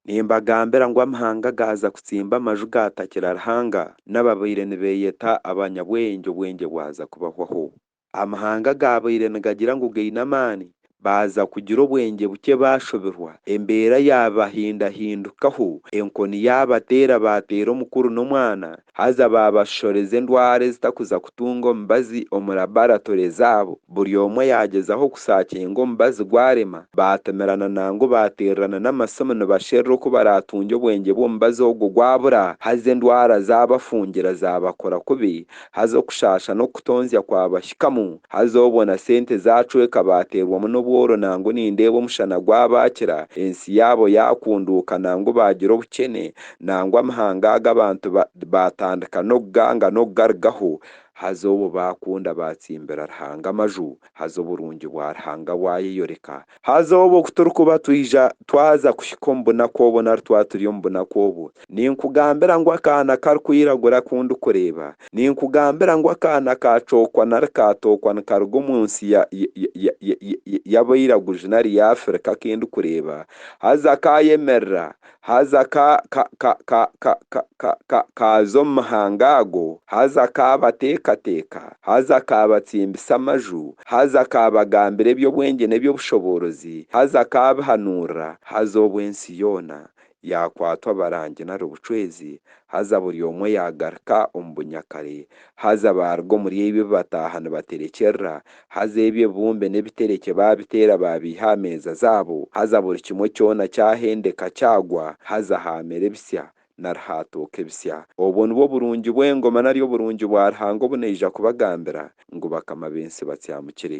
Nimbagambira ngu amahanga gaaza kutsimba amaju gaatakira Ruhanga, n'ababaire nibeeyeta abanyabwengye obwengye bwaza kubahwaho. Amahanga agaabaire nigagira ngu gaine amaani, baaza kugira obwengye bukye baashobirwa, embeera yaabahindahindukaho, enkoni yaabateera baateera omukuru n'omwana, Haza baabashoreza endwara ezitakuza kutunga omubazi omu labaratore zaabo, buri omwe yaagyezaho kusaakinga omubazi gwarema, baatomerana nangu baateererana n'amasimu nibasherura oku baraatungye obwengye bw'omubazi ogwo gwabura, haza endwara zaabafungira zaabakora kubi, haza okushaasha n'okutonzya kwabahikamu, haza obwo na sente zaacweka baateerwamu n'obworo nangu nindeeba omushana gwabaakira, ensi yaabo yaakunduuka nangu baagira obukyene, nangwa amahanga agu abantu baatandika n'okuganga n'okugarugaho, haza obu baakunda baatsimbira Ruhanga amaju, haza oburungi bwa Ruhanga bwayeyoreka. Haza obu oku turikuba twija twaza kuhika omu bunaku obwo nari twaba turi omu bunaku obwo, ninkugambira ngu akaana karikwiragura aku ndikureeba, ninkugambira ngu akaana kaacwokwa nari kaatookwa nikaruga omu nsi y'abairaguju nari ya Afirika aku ndikureeba, haza kaayemerera, haza ka, ka, ka, ka, ka, ka, ka, ka, kaaza omu mahanga ago, haza kaabateekateeka, haza kaabatsimbisa amaju, haza kaabagambira eby'obwengye n'eby'obushoboorozi, haza kaabihanuurira, haza obwo ensi yoona yaakwatwa abarangi nari obucwezi, haza buri omwe yaagaruka omu bunyakare, haza baaruga omuri ebi bataaha nibaterekyerera, Haza ebyo ebibumbe n'ebiterekye baabiteera baabyiha aha meeza zaabo, haza buri kimwe kyona kyahendeka kyagwa, haza haamera ebitsya nari haatooka ebitsya. Obwo nibwo burungi bw'engoma nari oburungi bwa Ruhanga obu naija kubagambira, ngu bakama b'ensi batsyamukire.